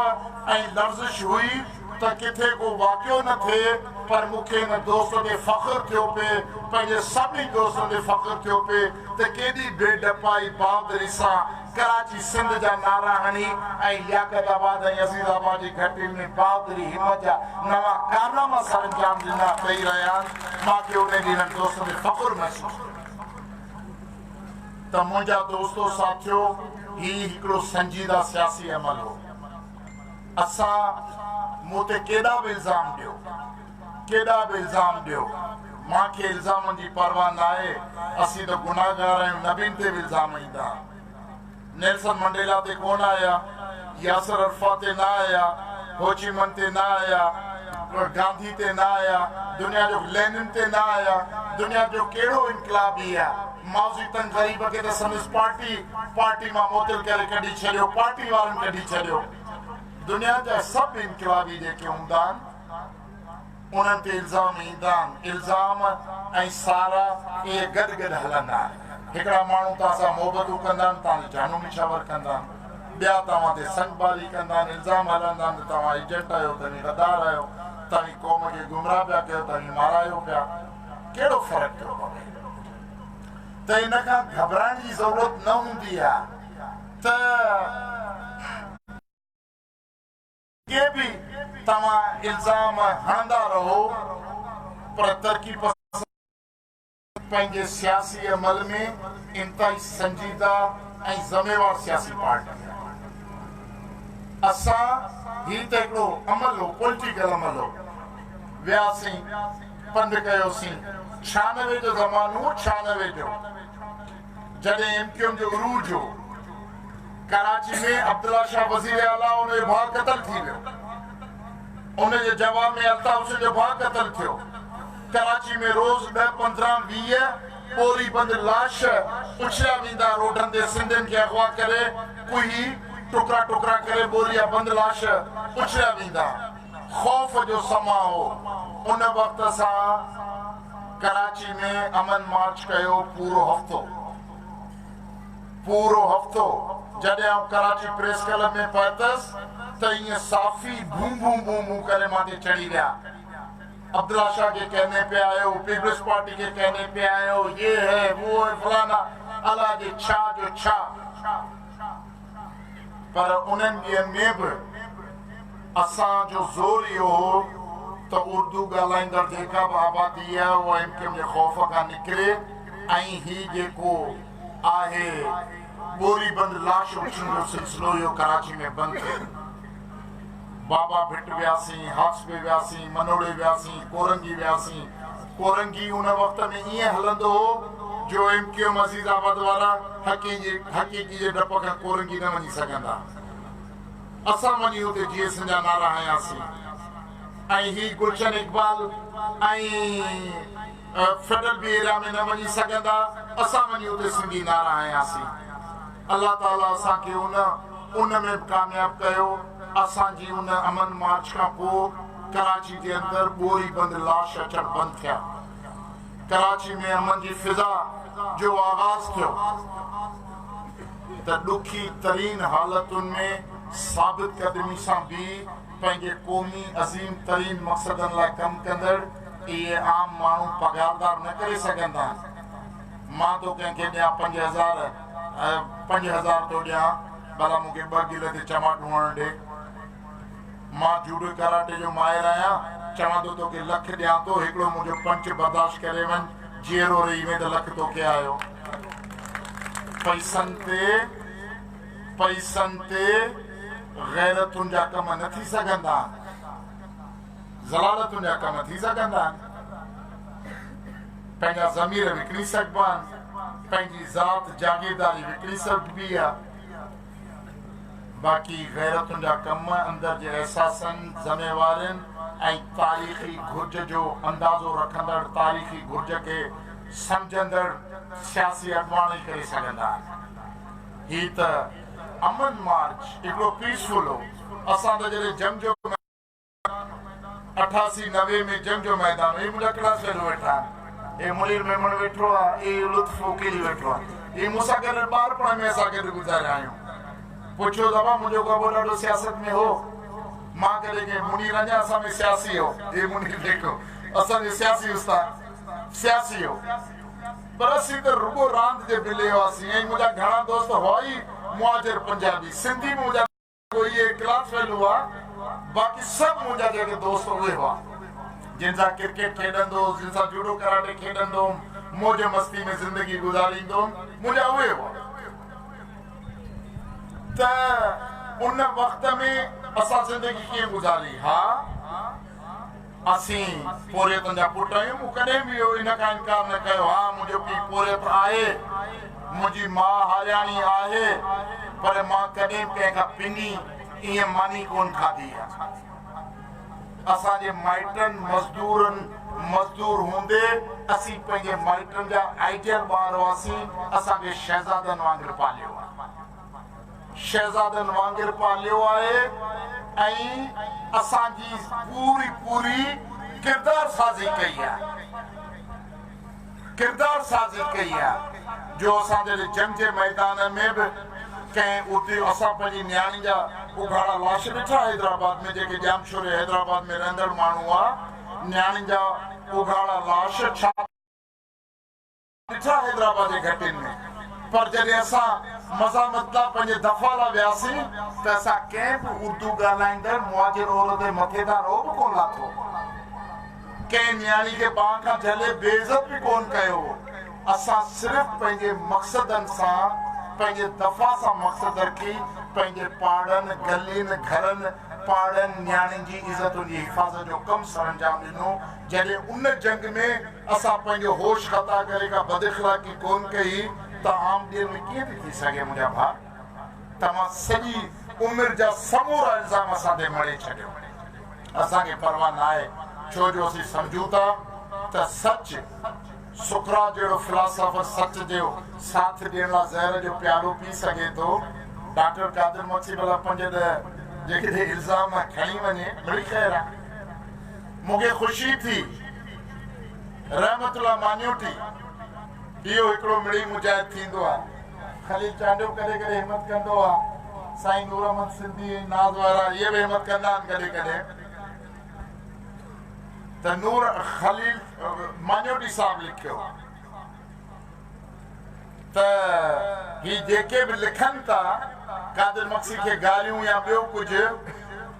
۽ لرزش هئي ته ڪٿي ڪو واقعو نه ٿئي پر مون کي ان دوست تي فخر ٿيو پئي، پنهنجي سڀني دوستن تي فخر ٿيو پئي ته ڪيڏي بي ڊپائي بهادري سان ڪراچي سنڌ جا نعرا هڻي ۽ لياقت آباد ۽ عزيز آباد جي گهٽين ۾ بهادري همت جا نوان ڪارناما سرانجام ڏنا ڏئي رهيا آهن مان کي انهي ڏينهن انهن دوستن تي فخر محسوس ٿيو ته منهنجا دوستو ساٿيو هي هڪڙو سنجيده سياسي عمل هو اسان مون تي ڪيڏا به الزام ڏيو ڪيڏا به الزام ڏيو، مان کي الزامن جي پرواهه ناهي، اسين ته گناهگار آهيون، نبين تي به الزام ايندا. نيلسن منڊيلا تي ڪونه آيا، ياسر عرفات تي نه آيا، هوچي من تي نه آيا، گانڌي تي نه آيا، دنيا جو لينن تي نه آيا، دنيا جو ڪهڙو انقلابي آ، مائوزي تنگ غريب کي ته سندس پارٽي پارٽي مان معطل ڪري ڪڍي ڇڏيو، پارٽي وارن ڪڍي ڇڏيو. دنيا جا سڀ انقلابي جيڪي هوندا آهن، انهن تي الزام ايندا آهن. الزام ۽ سارا اهي گڏ گڏ هلندا آهن. هڪڙا ماڻهو توهان سان محبتون ڪندا آهن، توهان جو جانو نشاور ڪندا آهن. ٻيا توهان تي سنگباري ڪندا آهن، الزام هلندا آهن ته توهان ايجنٽ آهيو، توهين غدار آهيو، توهين قوم کي گمراهه پيا ڪيو، توهين مارايو پيا. ڪهڙو فرق پيو پوي؟ ته ان کان گهٻرائڻ جي ضرورت نه هوندي ها ته. ڪي به توهان الزام هڻندا رهو پر ترقي پسند پارٽي پنهنجي سياسي عمل ۾ انتهائي سنجيده ۽ ذميوار سياسي پارٽي آهي. اسان هي ته هڪڙو عمل هو پوليٽيڪل عمل هو وياسين پنڌ ڪيوسين ڇهانوي جو زمانو هو ڇهانوي جو. جڏهن ايم ڪيو ايم جو عروج هو، ڪراچي ۾ عبدالله شاهه وزير اعليٰ ۽ ان جو ڀاء قتل ٿي ويو، ان جي جواب ۾ الطاف حسين جو ڀاء قتل ٿيو، ڪراچي ۾ روز ڏهه پندرهن ويهه ٻوري بند لاش اڇليا ويندا، روڊن تي سنڌين کي اغوا ڪري ڪوهي ٽڪرا ٽڪرا ڪري ٻوريا بند لاش اڇليا ويندا. خوف جو سماء هو، ان وقت اسان ڪراچي ۾ امن مارچ ڪيو پورو هفتو پورو هفتو جڏهن آئون ڪراچي پريس ڪلب ۾ پهتس ته ائين صافي ڀون ڀون ڀون ڀون ڪري مان تي چڙهي ويا عبدالله شاهه کي ڪهني پيا آيو پيپلز پارٽي کي ڪهني پيا آيو يي هي وو هي فلانا الله جي ڇا جو ڇا پر انهن ڏينهن ۾ به اسان جو زور اهو هو ته اردو ڳالهائيندڙ جيڪا به آبادي آهي اها ايم ڪيو ايم جي خوف کان نڪري ۽ هي جيڪو آهي ٻوري بند لاش اڇڻ جو سلسلو اهو ڪراچي ۾ بند ٿئي. بابا ڀٽ وياسين، هاڪسبي وياسين، منوڙي وياسين، ڪورنگي وياسين، ڪورنگي ان وقت ۾ ائين هلندو هو جو M Q M Azizabad وارا حقيقي جي ڊپ کان ڪورنگي نه وڃي سگهندا. اسان وڃي اتي جي ايسن جا نعرا هنياسين ۽ هي گلشن اقبال ۽ فيڊل به ايريا ۾ نه وڃي سگهندا اسان وڃي اتي سنڌي نعرا هنياسين. الله تعاليٰ اسان کي ان ان ۾ به ڪامياب ڪيو. اسان جي ان امن مارچ کان پوء ڪراچي جي اندر ٻوري بند لاش اچڻ بند ٿيا. ڪراچي ۾ امن جي فضا جو آغاز ٿيو ته ڏکي ترين حالتن ۾ ثابت قدمي سان بيهي پنهنجي قومي عظيم ترين مقصدن لاء ڪم ڪندڙ اهي عام ماڻهو پگهاردار نه ڪري سگهندا. مان ٿو ڪنهن کي ڏيان پنج هزار پنج هزار ٿو ڏيان ڀلا مون کي ٻه گل تي چماٽو هڻڻ ڏي. مان جوڊو ڪراٽي جو ماهر آهيان چوان ٿو توکي لک ڏيان ٿو هڪڙو منهنجو پنچ برداشت ڪري وڃ جيئرو رهي وين ته لک توکي آيو. پئسن تي پئسن تي غيرتن جا ڪم نه ٿي سگهندا. ضلالتن جا ڪم ٿي سگهن ٿا. پنهنجا ضمير وڪڻي سگهبا آهن، پنهنجي ذات جاگيرداري وڪڻي سگهبي آهي، باقي غيرتن جا ڪم اندر جي احساسن، ذميوارين ۽ تاريخي گهرج جو اندازو رکندڙ، تاريخي گهرج کي سمجهندڙ سياسي اڳواڻ ئي ڪري سگهندا آهن. هي ته امن مارچ هڪڙو پيسفل هو، اسان ته جڏهن جنگ جو اٺاسي نوي ۾ جنگ جو ميدان هي منهنجا ڪهڙا سهيلو ويٺا آهن هي منير ميمڻ ويٺو آهي هي لطف عقيلي ويٺو آهي هي مون سان گڏ ٻارپڻ ۾ اسان گڏ گذاريا آهيون پڇيو ته ابا منهنجو ڪو ڏاڍو سياست ۾ هو مان ڪڏهن ڪيم منير اڃا اسان ۾ سياسي هو هي منير جيڪو اسان جو سياسي استاد سياسي هو پر اسين ته رڳو راند جي بلي هئاسين ۽ منهنجا گهڻا دوست هئا ئي مهاجر پنجابي سنڌي به منهنجا پوء اهي ڪلاس فيل هئا، باقي سڀ منهنجا جيڪي دوست اهي هئا، جن سان ڪرڪيٽ کيڏندو هوس، جن سان جوڊو ڪراٽي کيڏندو هوم، موج مستي ۾ زندگي گذاريندو هوم، منهنجا اهي هئا. ته ان وقت ۾ اسان زندگي ڪيئن گذاري؟ ها! اسين پورهيتن جا پٽ آهيون. مون ڪڏهن به اهو ان کان انڪار نه ڪيو. ها منهنجو پيء پورهيت آهي، منهنجي ماء هارياڻي آهي، پر مان ڪڏهن به ڪنهن کان پني ائين ماني ڪونه کاڌي آهي. اسان جي مائٽن مزدورن مزدور هوندي اسين پنهنجي مائٽن جا آئيڊيل ٻار هئاسين، اسان کي شهزادن وانگر پاليو آهي. شهزادن وانگر پاليو آهي ۽ اسان جي پوري پوري ڪردار سازي ڪئي آهي ڪردار سازي ڪئي آهي جو اسان جڏهن جنگ جي ميدان ۾ به ڪنهن اتي اسان پنهنجي نياڻين جا اگهاڙا لاش ڏٺا حيدرآباد ۾ جيڪي ڄامشوري حيدرآباد ۾ رهندڙ ماڻهو هئا نياڻين جا اگهاڙا لاش ڇا ڏٺا حيدرآباد جي گهٽين ۾، پر جڏهن اسان مزاحمت لاء پنهنجي دفاع لاء وياسين ته اسان ڪنهن به اردو ڳالهائيندڙ مهاجر عورت جي مٿي تان رعب ڪونه لاٿو، ڪنهن نياڻي کي ٻانهن کان جهلي بي عزت به ڪونه ڪيو، اسان صرف پنهنجي مقصدن سان پنهنجي دفاع سان مقصد رکي پنهنجي پاڙن، گلين، گهرن، پاڙن، نياڻين جي عزتن جي حفاظت جو ڪم سرانجام ڏنو، جڏهن ان جنگ ۾. اسان پنهنجو هوش خطا ڪري ڪا بد اخلاقي ڪونه ڪئي ته عام ڏينهن ۾ ڪيئن ٿي ٿي سگهي منهنجا ڀاء توهان سڄي عمر جا سمورا الزام اسان تي مڙهي ڇڏيو اسان کي پرواهه ناهي ڇو جو اسين سمجهون ٿا ته سچ سقراط جهڙو فلاسافر سچ جو ساٿ ڏيڻ لا زهر جو پيالو پي سگهي ٿو ڊاڪٽر قادر مگسي ڀلا پنج ڏهه جيڪڏهن الزام کڻي وڃي مڙئي خير آ مونکي خوشي ٿي. رحمت الله ماڃوٽي، اهو هڪڙو مڙئي مجاهد ٿيندو آ. خليل چانڊيو ڪڏهن ڪڏهن همت ڪندو آ. سائين نورمحمد سنڌي ۽ ناز وارا اهي به همت ڪندا آهن ڪڏهن ڪڏهن ته نور خليل ماڃوٽي صاحب لکيو ته هي جيڪي به لکن ٿا قادر مگسي کي گاريون يا ٻيو ڪجهه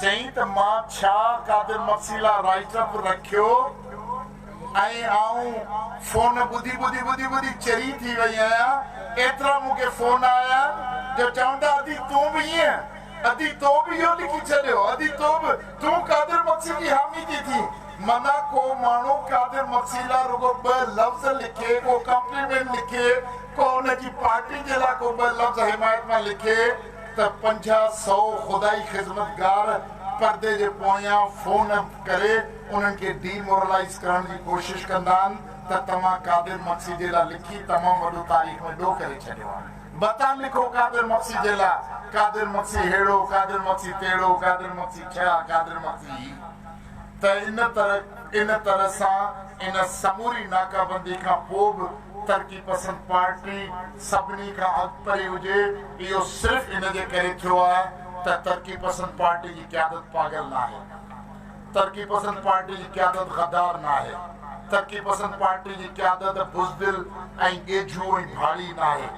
چيائين ته مان ڇا قادر مگسي لا رائيٽ اپ رکيو ۽ آئون فون ٻڌي ٻڌي ٻڌي ٻڌي چري ٿي وئي آهيان ايترا مون کي فون آيا آهن جو چون ٿا ادي تون به ائين ادي تو به اهو لکي ڇڏيو ادي تو به تون قادر مگسي جي حامي ٿي ٿين معنيٰ ڪو ماڻهو قادر مگسي لا رڳو ٻه لفظ لکي ڪو ڪمپليمينٽ لکي ڪو ان جي پارٽي جي لا ڪو ٻه لفظ حمايت مان لکي ته پنجاهه سئو خدائي خدمتگار پردي جي پويان فون ڪري انهن کي ڊي مورلائيز ڪرڻ جي ڪوشش ڪندا آهن ته توهان قادر مگسي جي لا لکي تمام وڏو تاريخ ۾ ڏوهه ڪري ڇڏيو آهي متان لکو قادر مگسي جي لا قادر مگسي ههڙو قادر مگسي تهڙو قادر مگسي ٺيا قادر مگسي هي. ته ان طرح ان طرح سان ان سموري ناڪابندي کان پوء به ترقي پسند پارٽي سڀني کان اڳڀري هجي اهو صرف ان جي ڪري ٿيو آهي ته ترقي پسند پارٽي جي قيادت پاڳل ناهي ترقي پسند پارٽي جي قيادت غدار ناهي ترقي پسند پارٽي جي قيادت بزدل ۽ ڳيجهو ۽ ڀاڙي ناهي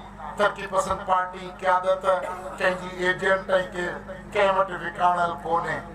ترقي پسند پارٽي جي قيادت ڪنهن جي ايجنٽ ۽ ڪنهن وٽ وڪاڻل ڪونهي.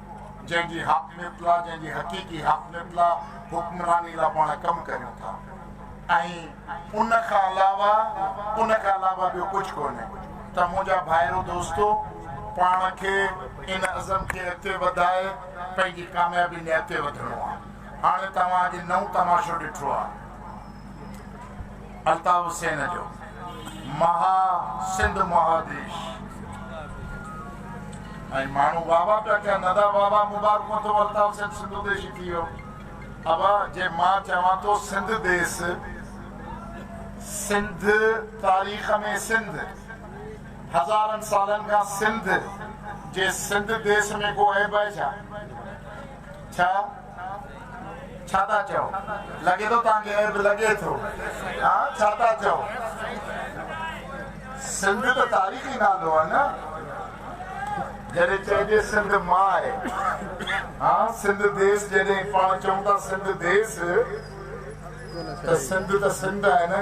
جنهن جي حاڪميت لا جنهن جي حقيقي حاڪميت لا حڪمراني لا پاڻ ڪم ڪريون ٿا ۽ ان کان علاوه ان کان علاوه ٻيو ڪجهه ڪونهي ته منهنجا ڀائرو دوستو پاڻ کي ان عزم کي اڳتي وڌائي پنهنجي ڪاميابي ۾ اڳتي وڌڻو آ هاڻي توهان اڄ نئون تماشو ڏٺو آ. الطاف حسين جو مها سنڌ مهاديش ۽ ماڻهو واھ واھ پيا ڪن ادا واھ واھ مبارڪون اٿو الطاف حسين سنڌو ديشي ٿي ويو ابا جي مان چوان ٿو سنڌ ديس سنڌ تاريخ ۾ سنڌ هزارن سالن کان سنڌ جي سنڌ ديس ۾ ڪو عيب آهي ڇا ڇا؟ ڇا ٿا چئو؟ لڳي ٿو توهان کي عيب لڳي ٿو. ها ڇا ٿا چئو؟ سنڌ ته تاريخي نالو آهي نه؟ جڏهن چئجي سنڌ ماء، ها سنڌ ديس جڏهن پاڻ چئون ٿا سنڌ ديس ته سنڌ ته سنڌ آهي نه؟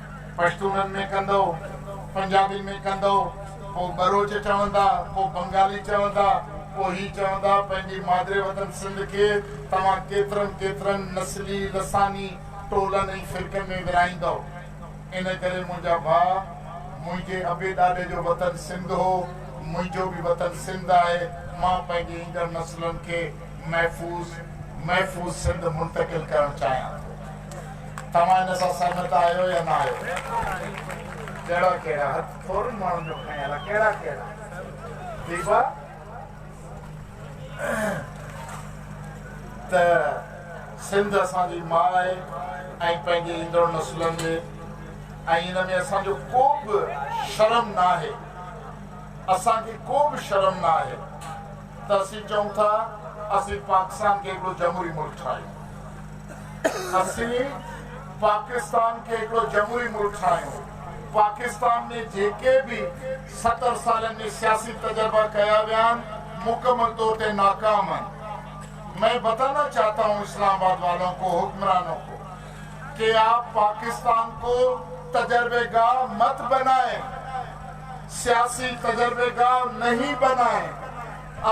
پشتونن ۾ ڪندؤ، پنجابين ۾ ڪندؤ، ڪو ٻروچ چوندا، ڪو بنگالي چوندا، ڪو هي چوندا، پنهنجي مادري وطن سنڌ کي توهان ڪيترن ڪيترن نسلي، لساني، ٽولن ۽ فرقن ۾ ورهائيندؤ. ان ڪري منهنجا ڀاء، منهنجي ابي ڏاڏي جو وطن سنڌ هو، منهنجو به وطن سنڌ آهي، مان پنهنجي ايندڙ نسلن کي محفوظ، محفوظ سنڌ منتقل ڪرڻ چاهيان ٿو. توهان ان سان سهمت آهيو يا نه آهيو؟ ڪهڙا ڪهڙا؟ هٿ ٿورن ماڻهن جو کنيل آهي. ڪهڙا ڪهڙا؟ ٺيڪ آهي ته سنڌ اسان جي ماء آهي ۽ پنهنجي ايندڙ نسلن جي ۽ ان ۾ اسان جو ڪو به شرم نه آهي. اسان کي ڪو به شرم نه آهي. ته اسين چئون ٿا اسين پاڪستان کي هڪڙو جمهوري ملڪ ٺاهيون، اسين پاڪستان کي هڪڙو جمهوري ملڪ ٺاهيون، پاڪستان ۾ جيڪي به ستر سالن ۾ سياسي تجربا ڪيا ويا آهن مڪمل طور تي ناڪام آهن، مين بتانا چاهتا هون اسلام آباد والون ڪو حڪمرانون ڪو. ڪي آپ پاڪستان ڪو تجربه گاه مت بنائين سياسي تجربه گاه نهين بنائين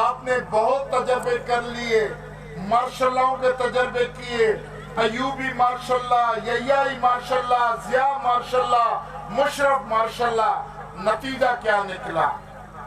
آپ ني بهت تجربه ڪر ليئي مارشل لاون ڪي تجربه ڪيئي ايوبي مارشل لا يياي martial law Zia martial law Musharraf martial law نتيجا ڪيا نڪلا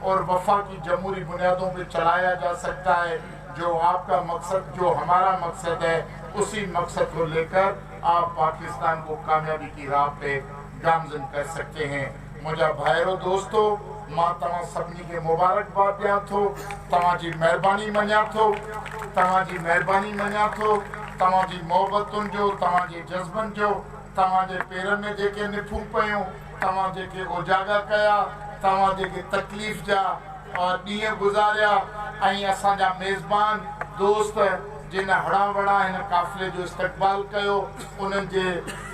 اور وفاقي جمهوري بنيادون پي چلايا جا سڪتا هي جو آپ ڪا مقصد جو همارا مقصد هي اسي مقصد ڪو لي ڪر آپ پاڪستان ڪو ڪاميابي ڪي راھ پي گامزن ڪر سڪتي هي منهنجا ڀائرو دوستو مان توهان سڀني کي مبارڪ باد ڏيان ٿو توهان جي مهرباني مڃان ٿو توهان جي مهرباني مڃان ٿو توهان جي محبتن جو توهان جي جذبن جو توهان جي پيرن ۾ جيڪي نفون پيون توهان جيڪي اوجاڳا ڪيا، توهان جيڪي تڪليف جا ڏينهن گذاريا ۽ اسان جا ميزبان دوست جن هڙان وڙان هن قافلي جو استقبال ڪيو، انهن جي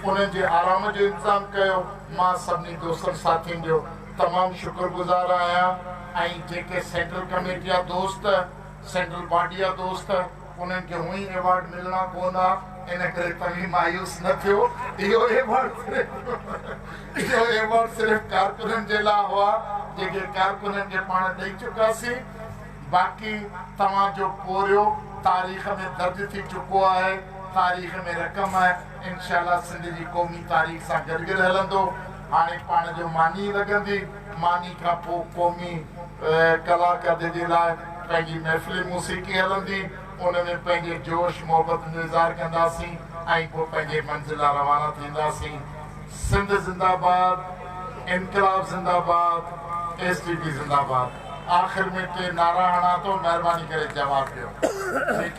انهن جي آرام جو انتظام ڪيو، مان سڀني دوستن ساٿين جو تمام شڪر گذار آهيان ۽ جيڪي سينٽرل ڪميٽي جا دوست، سينٽرل باڊي جا دوست. انهن کي هونئن ايوارڊ ملڻا پوندا، ان ڪري توهين مايوس نه ٿيو. اهو ايوارڊ صرف ڪارڪنن جي لاء هئا، جيڪي ڪارڪنن کي پاڻ ڏئي چڪاسين. باقي توهان جو پورهيو تاريخ ۾ درج ٿي چڪو آهي. تاريخ ۾ رقم آهي. انشاء الله سنڌ جي قومي تاريخ سان گڏ گڏ هلندو. هاڻي پاڻ جو ماني لڳندي. ماني کان پوء قومي ڪلاڪردي جي لاء پنهنجي محفلي موسيقي هلندي، ان ۾ پنهنجي جوش محبت جو اظهار ڪنداسين ۽ پوء پنهنجي منزل لاء روانا ٿينداسين. سنڌ زنده باد، انقلاب زنده باد، ايس ٽي پي زنده باد آخر ۾ ٽي نعرا هڻان ٿو مهرباني ڪري جواب ڏيو ٺيڪ.